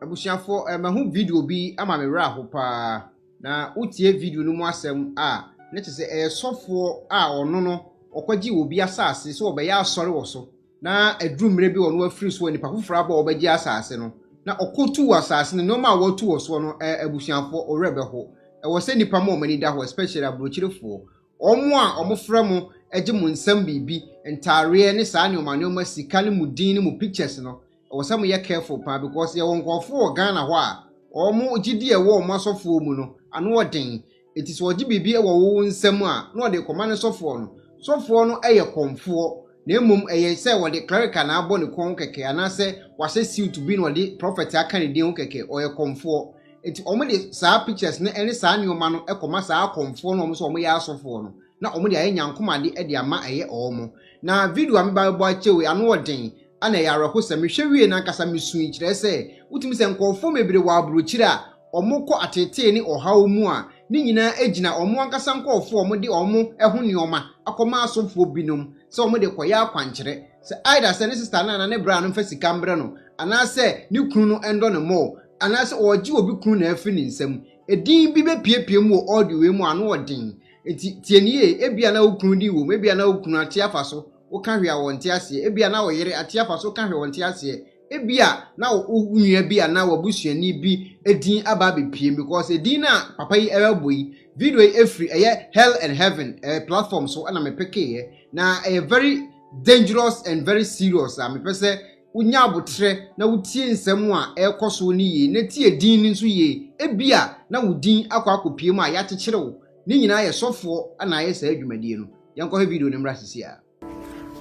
Abusuafoɔ, eh, mahu video bi ama me werɛ aho paa. Na wotie video no mu asɛm a, ne te sɛ ɛyɛ sɔfoɔ a ɔno no ɔkɔgye obi asase sɛ ɔbɛyɛ asɔre wɔ so. Na aduru mmerɛ bi ɔno afiri so a nipa foforɔ aba a ɔbɛgye asase no. Na ɔkɔtu wɔ asase no, nneɛma a watu wɔ soɔ no, eh, abusuafoɔ, wo werɛ bɛho. Ɛwɔ sɛ nipa ma wɔn ani da hɔ, especially aburokyerefoɔ. Wɔn a wɔfrɛ mo gye mo nsam biribi, ntaareɛ ne saa nnoɔma nnoɔma, sika ne mo din ne mo pictures no, ɛwɔ sɛ moyɛ careful paa because yɛwɔ nkurɔfoɔ wɔ Ghana hɔ a wɔn gyidie a ɛwɔ wɔn asɔfoɔ mu no ano yɛ den nti sɛ wɔgye biribi wɔ wo wo nsam a na wɔde rekɔma ne sɔfoɔ no, sɔfoɔ no yɛ kɔmfoɔ. na mmom ɛyɛ sɛ wɔde cleric a na abɔ ne kɔn ho kɛkɛ anaasɛ wahyɛ suit bi na ɔde prophet aka ne din ho kɛkɛ, ɔyɛ kɔmfoɔ. Enti wɔde saa pictures no ne saa nneɛma no kɔma saa akɔmfoɔ no a wɔn sɛ wɔyɛ asɔfoɔ no, na wɔde ayɛ nyankomade de ama ɛyɛ wɔn. Na video a me ba bɛbɔ akyɛ wei, ano ɔden, ɛna ɛyɛ awerɛhosɛm. Mehwɛ wiei no ankasa misui, kyerɛ sɛ, wotumi sɛ nkurɔfoɔ bebree wɔ aburokyire a, wɔkɔ ateetee ne ɔhaw mu a, ne nyinaa gyina wɔn ankasa nkurɔfo a wɔde wɔn ho nneɛma akɔma asɔfoɔ binom sɛ wɔde rekɔyɛ akwankyerɛ. Sɛ either sɛ ne sista no anaa ne bra no mfa sika mbrɛ no, anaasɛ ne kunu no ndɔ no more, anaasɛ ɔregye obi kunu no afiri ne nsam. Edin bi bɛpuepue mu wɔ audio wei mu a ano wɔ den. Enti tie no yie. Ebia na wo kunu din wom, ebia na wo kunu ate afa so, woka hwee a wɔnte aseɛ, ebia na wo yere ate afa so, woka hwee a wɔnte aseɛ. Ebia na wo nua bi anaa w'abusuani bi din aba abepiem because edin no a papa yi ɛrebɔ yi, video yi efiri ɛyɛ Hell and Heaven ɛɛ platform so ɛna me pekeeɛ na ɛyɛ very dangerous and very serious a mepɛ sɛ wonya aboterɛ na wotie nsɛm a ɛrekɔ so no yie na tie din no nso yie. Ebia na wo din akɔ akɔpiem a yɛakyekyere wo. Ne nyinaa yɛ sɔfoɔ na ayɛ saa dwumadie no. Yɛnkɔhwɛ video no mmra seesei ara.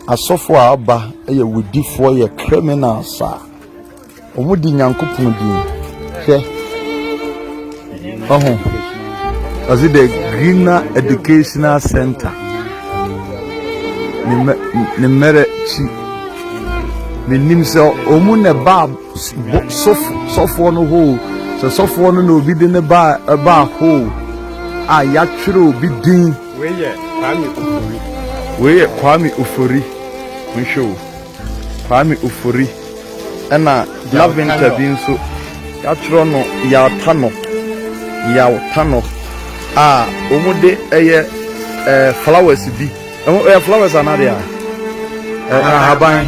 Asɔfo a aba yɛ wodifoɔ yɛ criminals a ɔmo di nyankopɔn din hwɛ ɔho ɔsi the greener educational center ne mmerɛ kyi menim sɛ ɔmo na ɛbaa sɔfoɔ no hoo sɛ sɔfoɔ no na obi de ne baa hoo a yɛatwerɛ obi din. Wei yɛ Kwame Ofori. Wei yɛ Kwame Ofori. Monhwɛ o. Kwame Ofori. Ɛna Laventer bi nso, yɛatwerɛ no Yaltanɔ, Yaltanɔ, a wɔde ɛyɛ eh, flowers bi. Ɛho ɛyɛ flowers anaa deɛ a? Eh, ahaban.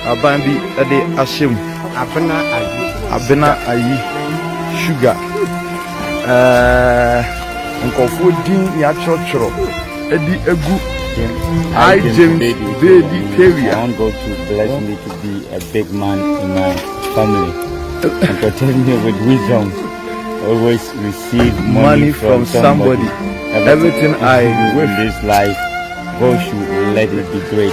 Ahaban bi ɛde ahyɛ mu. Abena ayi. Abena ayi. Sugar. Eh, nkorɔfoɔ din yɛatwerɛtwerɛ de agu I James Baby Kawia. I want God to bless me to be a big man in my family and protect me with wisdom. Always receive money, money from, from somebody. somebody. Everything, Everything I wish in this life, God should let it be great.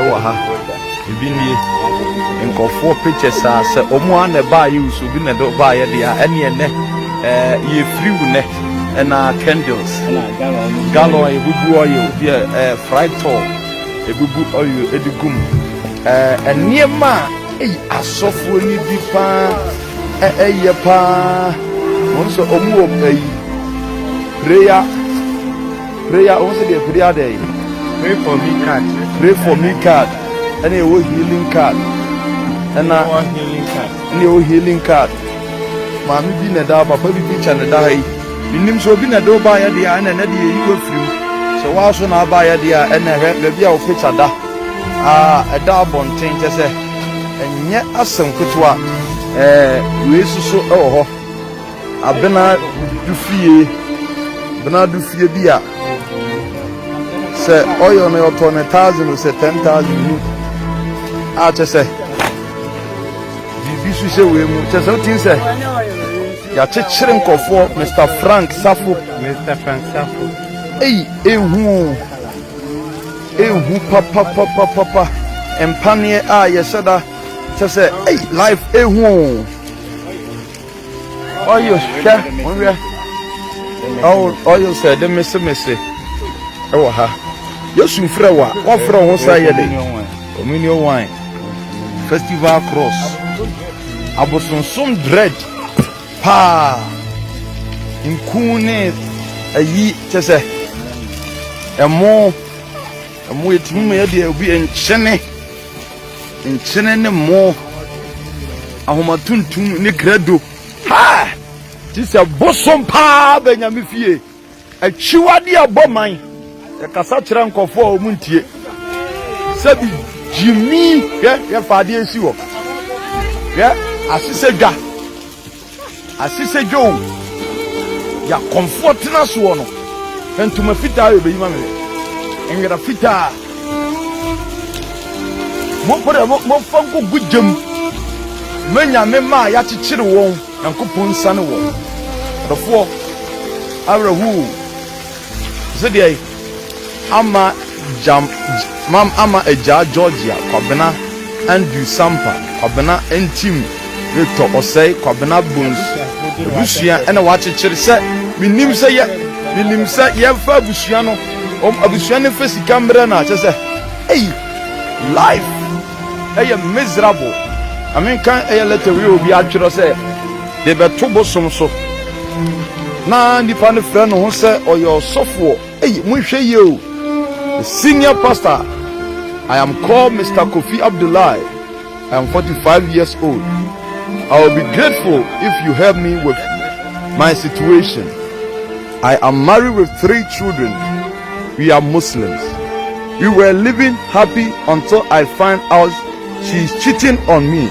ɛwɔ ha. Ebi nie. Nkurɔfoɔ pictures a sɛ wɔn ara na ɛbaeɛ o sɛ obi na ɛde baeɛ deɛ a, ɛneɛ nnɛ ɛɛ yɛfiri wo nnɛ ɛna candles gallon ebubu oil bi a ɛɛ fry tall ebubu oil ɛde gu mu ɛɛ nneɛma a eyi asɔfoɔ ni bi paa ɛyɛ paa wɔn nso wɔn wɔ ɛyi prayer. Prayer, wɔn sɛ deɛ prayer dɛ yi. Pray for me card. Pray for me card. Ɛna ɛwɔ healing card. Ɛna ɛna ɛwɔ healing card. Maame bi na ɛda papa bi bi kyɛ na ɛda ha yi. Menim sɛ obi na ɛde ɔbaa yɛ deɛ ɛna ɛna deɛ eyi wafiri mu. Sɛ wɔaso na aba yɛ deɛ ɛna ɛhwɛ baabi a ɔpɛkya da. Aa ɛda abɔnten kyɛ sɛ ɛnyɛ asɛm ketewa. Ɛɛ wei soso ɛwɔ hɔ. Abena du fie, Bena du fie bi a, sɛ ɔyɔ no ɔtɔ ne thousand o sɛ ten thousand mu a kyɛ sɛ biribi so hyɛ wei mu kyɛ sɛ wotim sɛ yɛakyekyere nkɔfoɔ Mr Frank Safo Mr Frank Safo eyi ehu o ehu papapapapa mpaneɛ a yɛhyɛ da kyɛ sɛ eyi life ehu o. Ɔyo hwɛ monhwɛ ɔyo sɛ de mese mese ɛwɔ ha Yesu frɛ wa wɔfrɛ ho sa yɛ de communion wine festival cross abosonsom dread paa nku ne ayi kyɛ sɛ ɛmo ɛmo etumi ma yɛ deɛ obi nkyene. nkyene ne mmo, ahoma tuntum ne krado. Ha! Te sɛ bosom paa bɛ nyame fie. Akyiwade a ɛbɔ man. Yɛkasa kyerɛ nkɔfoɔ a wɔn ntie. Sɛbi gyimi hwɛ yɛfa adeɛ si hɔ. Hwɛ asesɛ dwa. Asese dwoo. Deɛ akɔmfoɔ tena soɔ no. Hwɛ ntoma fitaa yɛ bɛyi ma me hwɛ. Nwera fitaa. Mompere momfa nkogu gyam. Manya ne mma a yɛakyekyere wɔn. Nyankopɔn nsane wɔn. Adɔfoɔ awerɛhoo. Sɛ deɛ. ama gyam mam ama Agyaa Georgia Kwabena Andrew Sampa Kwabena ntim retɔ ɔsɛe Kwabena Bones abusua na wɔakyekyere sɛ menim sɛ yɛ menim sɛ yɛmfa abusua no wɔn abusua no mfa sika mmerɛ no a kyɛ sɛ ei life ɛyɛ miserable na menka ɛyɛ letter wei obi atwerɛ sɛ de bɛto bosom so. Ná nnipa no frɛ ne ho sɛ ɔyɛ ɔsɔfoɔ. Ei, monhwɛ yie o! The senior pastor, I am called Mister Kofi Abdullahi, I am forty five years old, I will be grateful if you help me with my situation, I am married with three children, we are Muslims, we were living happy until I find out she is cheating on me.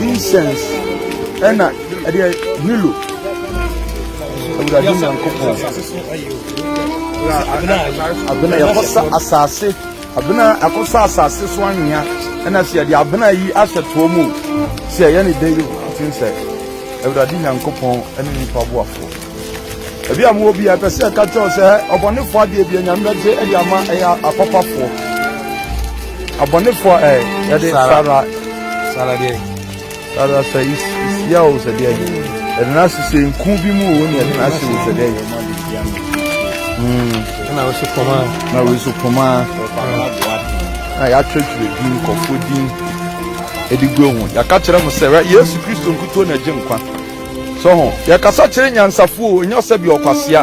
incense ɛna ɛdeɛ hilo awurade nyankopɔn abena yɛkɔsa asase abena akɔsa asase so anwea ɛna sɛ yɛde abena yi ahyɛ toɔ mu sɛ ɛyɛ ne dɛ yi ɔte sɛ awurade nyankopɔn ɛne nipa boafoɔ Ebi a mowɔ bi a ɛpɛ sɛ ɛka kyerɛw sɛ ɔbɔnefoɔ adeɛ bi anyame bɛgye ɛde ama ɛyɛ apapafoɔ. Abɔnefoɔ ɛ yɛde sara sara deɛ sara sɛ isia o sɛ deɛ ɛde na ase sɛ nku bi mu o ne ɛde na ase o sɛ deɛ na wosi pɔma na wosi pɔma na yɛatwerɛtwerɛ din nkɔfoɔ din ɛde gu ho yɛaka kyerɛ mo sɛ yesu kristo nkutuo na ɛgye nkwa So ho? Yɛkasa kyerɛ nyansafo o, ɛnyɛ ɔsɛ bi ɔkwasea.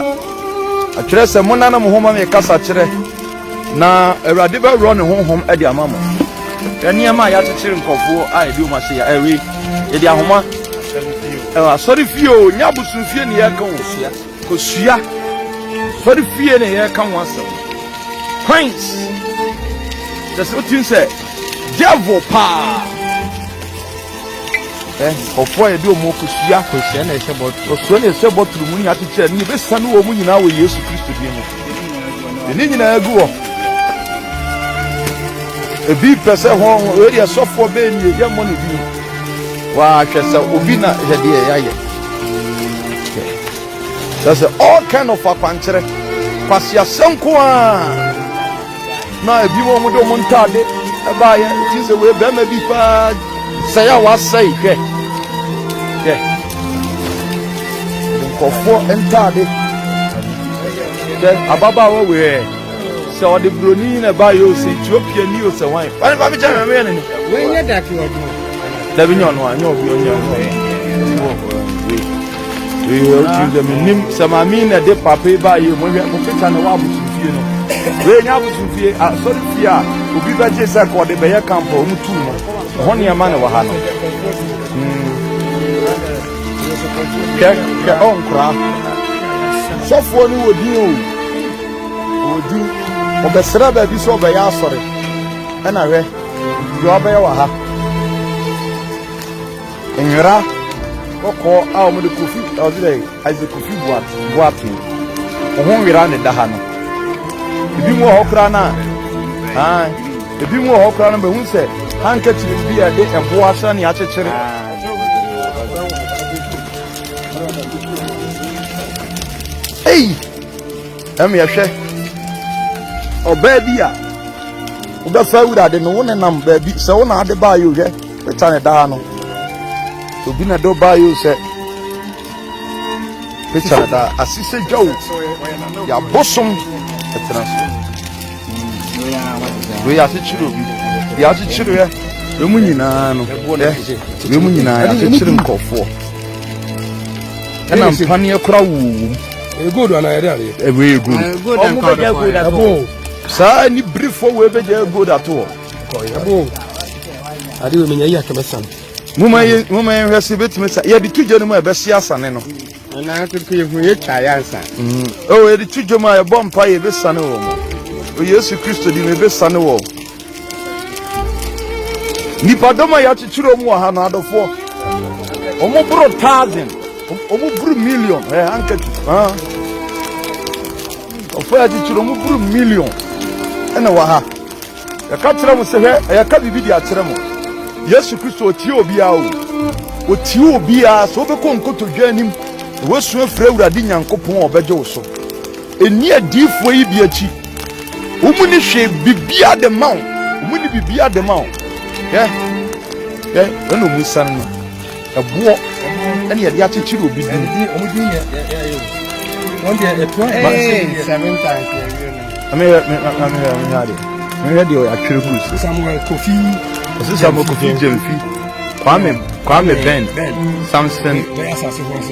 Ɛkyerɛ sɛ monna ne mo ho ma me kasa kyerɛ, na Awurade bɛworɔ ne honhom de ama mo. Hwɛ nneɛma a yɛakyekyere nkurɔfoɔ a yɛde wɔn ahyɛ yɛ ɛwe. Yɛde ahoma ɛwɔ asɔre fie o, nyɛ abosomfie ne yɛreka wɔn sua. Kosua. Asɔre fie ne yɛreka wɔn asɛm. Coins. Kyerɛ sɛ wotim sɛ devil paa. Nkurɔfoɔ a yɛde wɔn rekɔsie akwanhyia na ɛhyɛ bɔtoro, ɔsoro na ɛhyɛ bɔtoro mu nyaate kyerɛ no, yɛbɛsiane wɔn nyinaa wɔ Yesu Kristo din mu. Yɛn ne nyinaa gu hɔ. Ebi pɛ sɛ hɔ wei deɛ sɔfoɔ bɛɛ nie yɛmmɔ no bi wahwɛ sɛ obi na yɛ deɛ yɛayɛ sɛ sɛ all kind of akwankyerɛ kwaseasɛm ko a Na ebinom wɔn de wɔn ntade baeɛ nti sɛ wei bɛrima bi paa sɛe a wasɛe hwɛ hwɛ nkɔfoɔ ntade hwɛ ababaawa wei ɛ sɛ ɔde buroni na ɛbaeɛ o sɛ ethiopia ni o sɛ wan wane fa mekyɛ hwɛ meyɛ ne ne dabi nyɛ ɔno a nyɛ ɔbi ɔnyɛ ɔno ɛ Ee, o ti sɛ menim sɛ maame na ɛde papa yi baa yie mu hwɛ mokeka na ɛwɔ abosomfie no wei nyɛ abosomfie asɔre fie a obi bɛgye sɛ ka ɔde bɛyɛ kampa ɔmo tuu no ɛhɔ nneɛma na ɛwɔ ha no kɛ kɛ ɔnkora sɔfoɔ no wɔ din o wɔ din ɔbɛsrɛ baabi sɛ ɔbɛyɛ asɔre ɛna hwɛ deɛ ɔbɛyɛ wɔ ha Nwera kɔkɔɔ a wɔde kofi ɔde dɛ adze kofi boate boate ho nwera na ɛda ha no ebi mu wɔ hɔ koraa na aa ebi mu wɔ hɔ koraa no bɛhu sɛ handkerchief bi a ɛde ɛbo asra ne akyekyere ei ɛmi ɛhwɛ ɔbaa bi a wobɛfa awurade no wo nenam baabi sɛ wo na ade baa yɛ ohwɛ Ɛta ne daa no. Obi na do ba yo sɛ. Ɛta ne daa. Asise dwa o. Ya bosom ɛtena so. Wei akyekyere obi. Ya akyekyere yɛ. Wei mu nyinaa no. Wei mu nyinaa ya akyekyere nkurɔfoɔ. Ɛna mpaneɛ kora wuwu. Egold ana yɛ de adeɛ. Ɛwɛ egold. Ɔmo bɛ gya egold ato. Saa ni birifo wei bɛ gya egold ato. moma yɛnhwɛ sɛ bɛtumi sa yɛde to dwa no mu a ɛbɛhye asane no yɛde to dwa mu a yɛbɔ mpa yɛbɛsane wɔ mu o yesu kristo di no yɛbɛsane wɔ nnipadɔm a yɛakyekyerɛ mu wɔ ha no adɔfoɔ ɔmoboro thousand ɔmoboro million ɛhankati Nkurɔfoɔ a titire wɔn boro million na ɛwɔ ha. Yɛka kyerɛ mo sɛ hwɛ, yɛka biribi de akyerɛ mo. Yesu Kristo ɔtie obiara o. Ɔtie obiara sɛ wobɛkɔ nkotodwe anim na woasu afiri Awurade Nyankopɔn a ɔbɛgye wo so. Ɛnni adiyifoɔ yi bi akyi. Wɔn ni hwee biribiara de ma wo. Wɔn ni biribiara de ma wo. Hwɛ, hwɛ, hwɛ na wɔn sane no. Ɛboɔ ɛna yɛde akyekyere obi din. Wɔn din yɛ yɛ yɛ wɔn deɛ ɛtoa ɛɛ seven times na ɛyɛ no. Ɛmɛ yɛ mɛ mɛ mɛ yɛ mɛ yɛ de mɛ yɛ deɛ atwere gu so. Samuel Kofi. Ɛsɛ Samuel Kofi Gyemfi. Kwame Kwame Ben Samson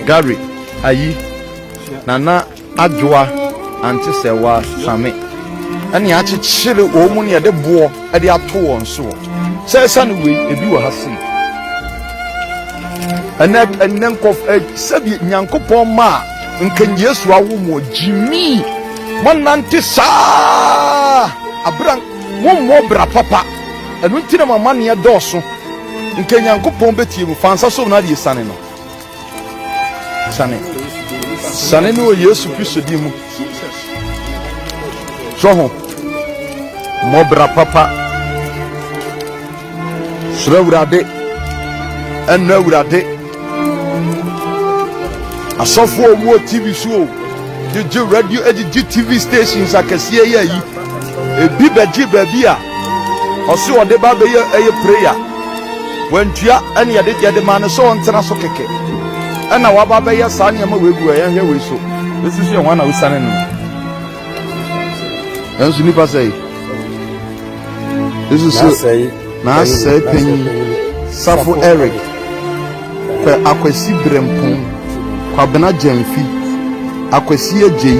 Gary Ayi Nana. Adwoa, ante sɛ wɔasame ne akyekyere wɔn mu ne yɛde boɔ de ato wɔn soɔ. Sɛ ɛsane wei, ebi wɔ ha sei. Ɛnɛ ɛnɛ nkɔf ɛ sɛbi Nyankopɔn ma a nka Yesu awo mu gyimi mɔnante saa abira mommɔ bra papa ɛno nti na mama neɛ dɔɔso nka Nyankopɔn bɛtie mu fa nsa so na adeɛ sane no Sane. Sane no wɔ Yesu Kristo din mu. Sɔ ho. Mmɔbra papa. Srɛ Awurade. Ɛnna Awurade. Asɔfo a wɔwɔ TV so o. Gyegye radio, gyegye TV stations akɛseɛ yɛ yi. Ebi bɛgye baabi a ɔse ɔde ba bɛyɛ ɛyɛ prayer. Wantua ɛne yɛde yɛde maa no sɛ ɔntena so kɛkɛ ɛna waba abɛyɛ saa nneɛma wei gu a yɛnhwɛ wei so ɛsi so yɛ hwan na wosiane no nanso nnipa sɛ yi ɛsi so na asɛe panyin safo eric pɛ akwasi berɛmpɔn kwabena gyamfi akwasi agyei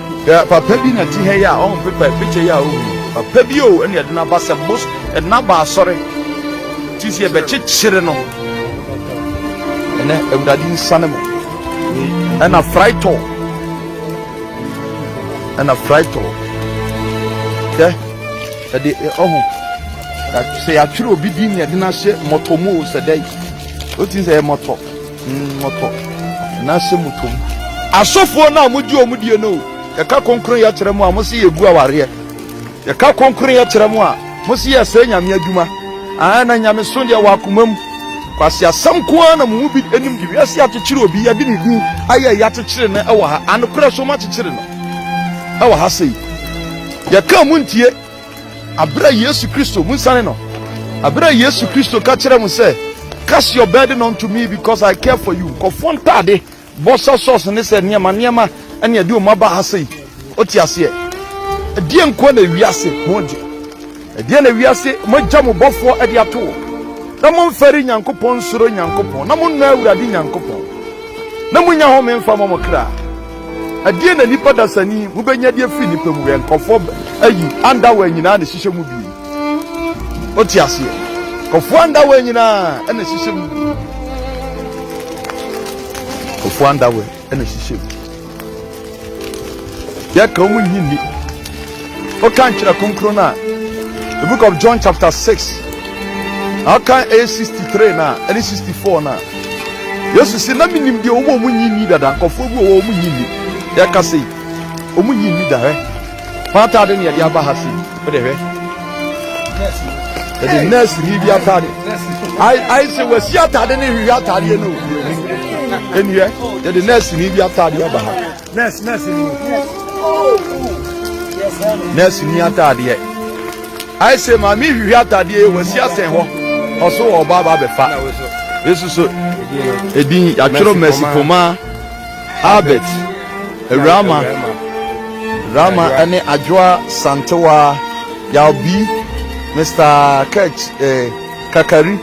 Hwɛ papa bi na ɛte ha yi a ɔho pepa yi, picture yi a ɔhu yi, papa bi o ɛna ɛde n'aba sɛ bos, ɛde n'aba asɔre, ti si ɛbɛkyekyere no, ɛnɛ awurade nsane mo, ɛna fraitɔ, ɛna fraitɔ, hwɛ ɛde ɔho, sɛ yɛatwerɛ obi din na ɛde n'ahyɛ mmɔtɔ mu o sɛ dɛ, o ti sɛ ɛyɛ mmɔtɔ. Mmɔtɔ na sɛ motɔ mu. Asɔfoɔ no a mogye wɔn die no o, yɛka kronkronyɛ kyerɛ mo a, mose yɛgu awareɛ. Yɛka kronkronyɛ kyerɛ mo a, mose yɛsɛe Nyame adwuma. Aane, na Nyamesom deɛ ɛwɔ akoma mu. Kwaseasɛm nko ara na mo mu bi nim de wiase akyekyere obi, yɛde ne din ayɛ yei akyekyere no wɔ ha. Anokorɛ so moakyekyere no wɔ ha sei. Yɛka a montie. Bere a Yesu Kristo, monsiane no, bere a Yesu Kristo ka kyerɛ mo sɛ, Cast your burden unto me because I care for you. Nkɔfoɔ ntaade, bɔ sɛ sɔs ne sɛ nneɛma nneɛma ɛne ɛde wɔn aba ha sei. Wote aseɛ? Ɛdeɛ nkoa na ewiase ho gye. Ɛdeɛ na ewiase moagya mo bɔfoɔ ɛde ato wɔ. Na momfɛre Nyankopɔn nsuro Nyankopɔn. Na monnɔ Awurade Nyankopɔn. Na monnya home mfa mmɔ mo kra. Ɛdeɛn na nnipa dasani yi mobɛnya de afiri nnipa mu? Hwɛ, nkɔfoɔ ba, ayi, andawa nyina ara na ɛhyehyɛ mu bi. Wote aseɛ? Nkɔfoɔ andawa nyina ara na ɛhyehyɛ mu bi. Nkɔfoɔ andawa na ɛhyehyɛ mu. Yɛka wɔn nyi nni. Wokan Twerɛ Kronkron no a, the book of John chapter 6, na wokan ɛyɛ 63 no a, ɛne 64 no a, Yesu se, na menim deɛ wɔn a wɔnyi nni dada, nkɔfoɔ bi wɔ hɔ wɔn nyi nni, yɛka sei, wɔn nyi nni da, hwɛ, wɔn ataade na yɛde aba ha sei, wode hwɛ, yɛde nurse ni bi ataade, ayi sɛ wɔasi ataade ne hwehwɛ ataadeɛ no, ɛniɛ, yɛde nurse ni bi ataade aba ha. Nurse, nurse ni. Nurse ni ataadeɛ. Ayɛ sɛ maame hwehwɛ ataadeɛ yɛ wɔasi asɛn hɔ. Ɔso wɔ ɔba aba abɛfa. Yesu so edin yɛatwerɛ Mercy Poma Albert Awurama Rama ɛne Adwoa Santewa Yalbi Mr. Kech eh, Kakari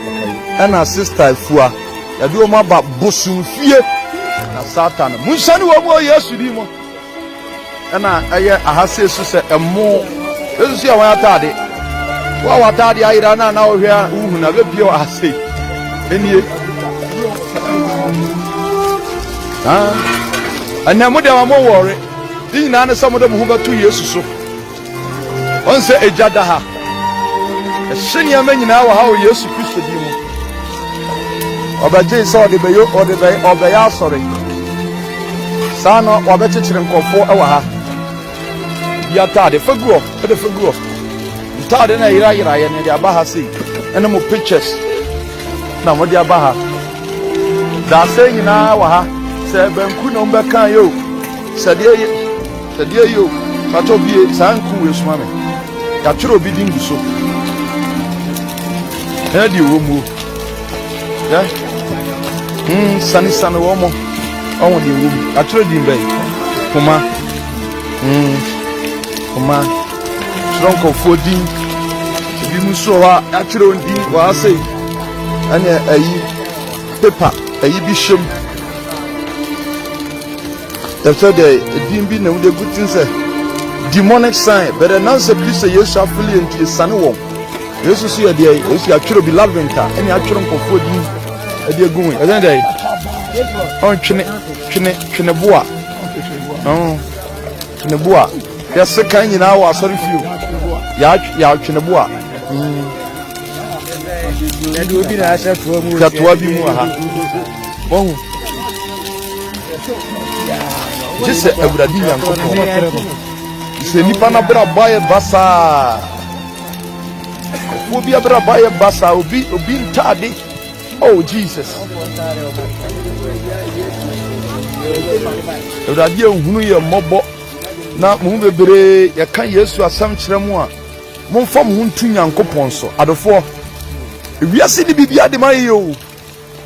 ɛna Sister Fua. Yɛde wɔn aba bosomfie na Satan. Monhyɛne wɔn mu wɔ Yesu din mu. Ɛna ɛyɛ aha sɛ esu sɛ ɛmo. Yesu so yɛ wɔn ataade. Wo a w'ataade ayera na na wohwɛ a wohu na bɛpie wɔ aha sei. Ɛnie. Ɛnɛ mo deɛ ma mo wɔre. Ne nyinaa ne sɛ mode mo ho bɛto Yesu so. Wɔn sɛ egya da ha. Ɛhye nneɛma nyinaa wɔ ha wɔ Yesu Kristo din mu. Ɔbɛgyee sɛ ɔde bɛyɛ ɔde bɛyɛ ɔbɛyɛ asɔre. Saa na wɔbɛkyekyere nkurɔfoɔ wɔ ha. Bi ataade fa gu hɔ ɛde fa gu hɔ. Ntaade na yerayera yɛ na ɛde aba ha sei ɛne mo pictures na wɔde aba ha. Daasɛ nyinaa wɔ ha sɛ banku na wɔbɛka yɛ o sɛ deɛ yɛ. Ɛdeɛ yi o, patɔ bie saa nku wei soma me. Yɛatwerɛ obi din gu so. Ɛna deɛ wɔ muo. Yɛ. Mm, sani sani wɔ mo. Ɔwɔ deɛ wɔ mu. Yɛatwerɛ din bɛyi. Kuma. Mm, kuma. Twerɛ nkɔfoɔ din. Ebi mu nso wɔ hɔ a yɛatwerɛ wɔn din wɔ ha sei. Ɛne ɛyi. Pepa. Ɛyi bi hyɛ mu. Ɛfɛ dɛ edin bi na wɔdze egu dzin sɛ demonic sign, bɛdɛ nansɛ pi sɛ Yesu afele yɛ ntsi yesane wɔn. Yesu so yɛ deɛ Yesu atwere obi labyrinth a ɛne atwere nkurɔfoɔ din ɛde egu ho yi. Ɛsɛn dɛ ɔn twene twene twene boa ɔn twene boa yɛse kan nyinaa wɔ asɔre fio yɛ twene boa mm. katoa bi mu ha wɔn gye sɛ awurade nyankopɔn sɛ nnipa no abrabɔ ayɛ basaa obi abrabɔ ayɛ basaa obi obi ntaade oh jesus awurade ehunu yɛ mmɔbɔ na mo bebree yɛka yesu asɛm kyerɛ mu a momfa mo ho ntu nyankopɔn so adofoɔ ewiase ne biribi ade ma yɛ o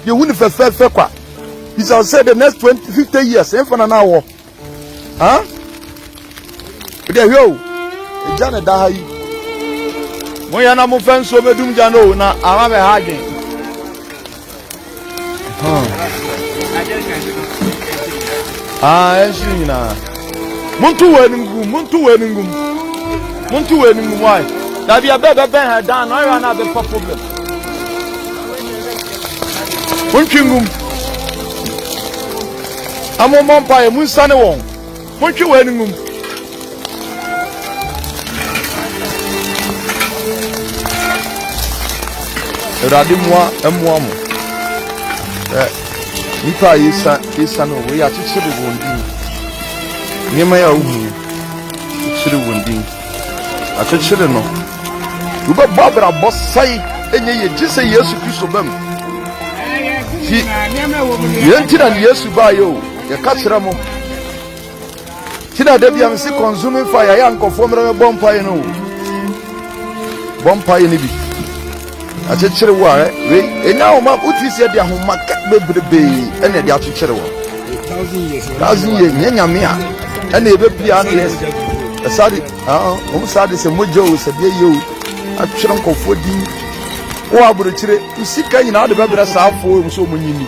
Yehu no fɛfɛɛfɛ kwa. Bisa wo sɛ the next twenty fifty years ɛnfa na na wɔ. Ha? Ɛdɛ hwɛ o. Ɛgya na ɛda ha yi. Mo yɛ na mo fɛ nsuo mɛdum gya no o na ama bɛ ha adwen. Ah, ɛnhyiri eh, nyinaa. Monto wɔ anim gum, monto wɔ anim gum. Monto wɔ anim gum, why? Dabi ɛbɛ bɛbɛn ha dan na ɔyɛ na abɛfa problem. montwe ngum na mommɔ mpaeɛ monsane wɔn montwe wɔn ani ngum awurade mmoa mmoa mo ɛ nnipa a yɛsa yɛsa no wei akyekyere wɔn din nneɛma yɛ a wohu yi kyerɛ wɔn din Akyekyere no. Wobɛbɔ abrabɔ sɛe ɛnyɛ yie gye sɛ Yesu Kristo bam. Ti yɛn ti na Yesu baayɛ o yɛka kyerɛ mo. Ti na da bia mese consuming fire yɛ nkɔfoɔ mmerɛ mɛbɔ mpaeɛ no o. Bɔ mpaeɛ no bi. Akyekyere wo ara wei ɛnya ahoma wotiri sɛ de ahoma ka bebrebee ɛna ɛde akyekyere wɔ thousand years nyɛ nyame a ɛna ɛbɛpia ano yɛ ɛsade wɔn sade sɛ mogya o sɛ deɛ yɛ o atwerɛ nkɔfoɔ din wɔ aburokyire sika nyinaa de bɛbrɛ saa afoɔ mu sɛ wɔn nyini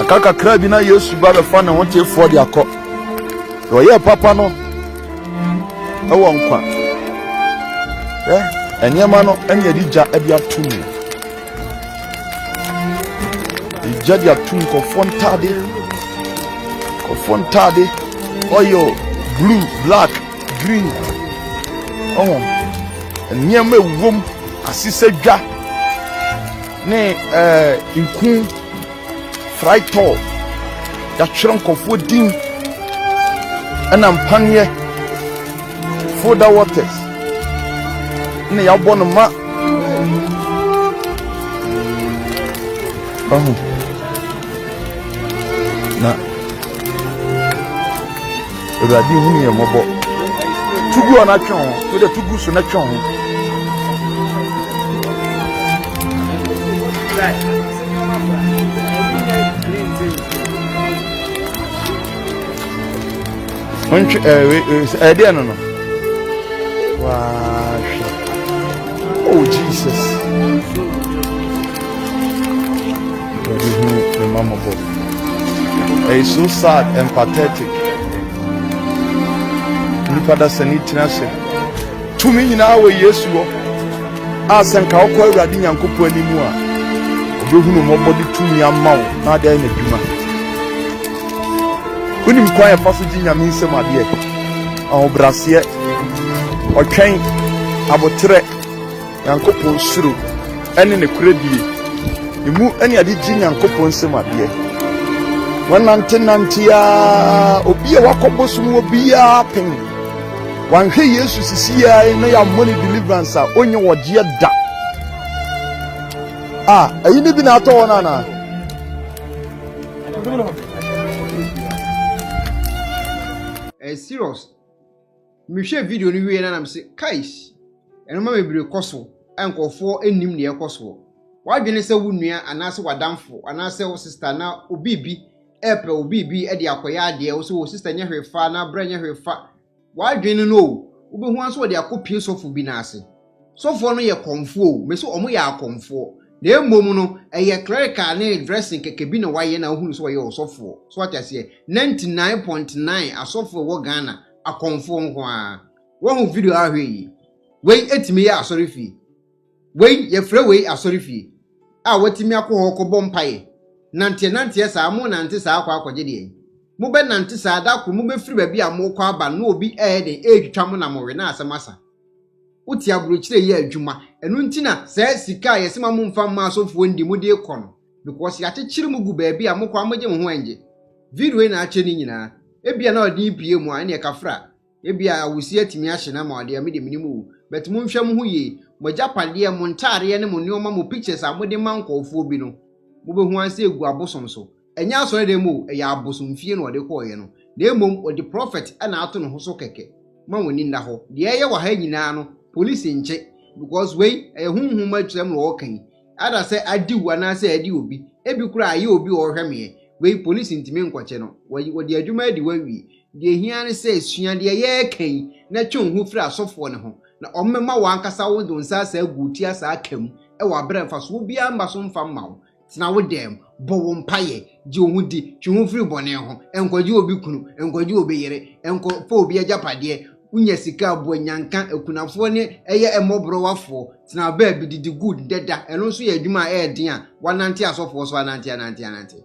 Aka kakra bi na Yesu ba bɛfa ne ho tefoɔ de akɔ. Na ɔyɛɛ papa no ɛwɔ nkwa. Ɛ nneɛma no ɛne yɛde gya ɛde ato mu. Gya de ato mu kɔfoɔ ntaade. Kɔfoɔ ntaade. Oil, blue, black, green. Ɔwɔ nneɛma ewom asesɛ dwa. ne eh, nku fraitɔ yɛatwerɛ nkɔfoɔ din ɛna mpaneɛ foda waters na yɛabɔ no ma ahu na Awurade hunu yɛn mmɔbɔ. To gu hɔ na twe ho. To dɛ to gu so na twe ho. Ntwe ɛɛ ɛɛ ɛdeɛ no no. Waa hwɛ. Oh Jesus. Awurade hu me mma mmɔbɔ. Ɛyɛ so sad and pathetic. Nnipa da sani tiri ase. Tumi nyinaa wɔ Yesu hɔ. A sɛ nka wokɔ Awurade Nyankopɔn anim a, ɔbɛhunu mmɔbɔ de tumi ama wo na ade ayɛ n'adwuma. Wonim kwan a ɛfa so gye Nyame nsɛm adeɛ, ahobraseɛ, ɔtwɛn, aboterɛ, Nyankopɔn suro ne nokorɛ die, emu ne ade gye Nyankopɔn nsam adeɛ. Wɔnante nante ara, obi a wakɔ bosom wɔ biara pen. Wanhwɛ Yesu sisi ara na yammɔ ne deliverance a ɔnyɛ wɔgyeɛ da. A, ɛyi ne bi na atɔ wɔn anaa? Ɛyɛ serious. Mehwɛɛ video no wieeɛ no na mese, Kais! Nnoɔma bebree kɔ so a nkurɔfoɔ nnim deɛ ɛrekɔ soɔ. W'adwene sɛ wo nua anaasɛ w'adamfo anaasɛ wo sista anaa obi biribi repɛ wo biribi de akɔyɛ adeɛ, wo sɛ o sista nyɛ hwee fa anaa brɛ nyɛ hwee fa w'adwene no o, wobɛhu ara nso wɔde akɔpie sɔfo bi nan ase. Sɔfoɔ no yɛ kɔmfoɔ o, mese wɔn yɛ akɔmfoɔ. Na mmom no, ɛyɛ clerical ne dressing kɛkɛ bi na wɔayɛ na wohu no sɛ ɔyɛ ɔsɔfoɔ. So wate aseɛ? 99.9 asɔfoɔ a ɛwɔ Ghana akɔmfoɔ nko ara wɔhu video a ahwɛ yi wei etumi yɛ asɔre fie wei yɛfrɛ wei asɔre fie a watumi akɔ hɔ kɔbɔ mpaeɛ nanteɛ nanteɛ saa mo nante saa akɔ akɔgye deɛ mo bɛ nante saa da koro mo bɛ firi baabi a mo kɔ aba no obi ɛyɛ den ɛretwitwa mo na mo we na asɛm asa wote aburokyire yɛ adwuma ɛno nti na saa sika a yɛsema mo mfa mma asɔfoɔ ndi mo de kɔ no because yɛakyekyere mo gu baabi a mokɔ a mogye mo ho ɛngye. Video yi na akyɛ ne nyinaa. Ebia na ɔde yi pie mu a ɛneɛ kafra. Ebia awusie atumi ahye no ama ɔde a medeɛ menim oo. But monhwɛ mo ho yie. Mo agyapadeɛ, mo ntaadeɛ ne mo nnoɔma mo pictures a mode ma nkɔɔfoɔ bi no, mobɛhu ara sɛ ɛgu abosom so. Ɛnyɛ asɔredan mu oo, ɛyɛ abosomfie na ɔde kɔeɛ no. Na mmom ɔde prophet na ato ne ho so kɛkɛ. Mma mo ani nna hɔ. Deɛ ɛyɛ wɔ ha yi nyinaa no, police nkye. Because wei, ɛyɛ honhom atwerɛm na ɔɔka yi. Either sɛ adi wo anaasɛ adi obi, ebi koraa ayɛ obi a ɔrehwɛ me ɛ. Wei polisi ntumi nkɔkyɛ no. Wɔyi wɔde adwuma adi hɔ awie. Deɛ ehia ne sɛ sua deɛ yɛreka yi na twe wo ho firi asɔfoɔ no ho na wɔmma w'ankasa wode wo nsa asaa agu wo ti asaa aka mu wɔ aberɛ a mfasoɔ biara mma so mfa mma wo. Tena wo dan mu. Bɔ wo mpaeɛ. Gye wo ho di. Twe wo ho firi bɔne ho. Nkɔgye obi kunu. Nkɔgye obi yere. Nkɔfa obi agyapadeɛ. Wonya sika a, boa nyanka, akunafoɔ ne ɛyɛ mmɔborɔwafoɔ, tena baabi, didi good, dɛda, ɛno nso yɛ adwuma a ɛyɛ den a, wɔanante asɔfoɔ so anante anante anante.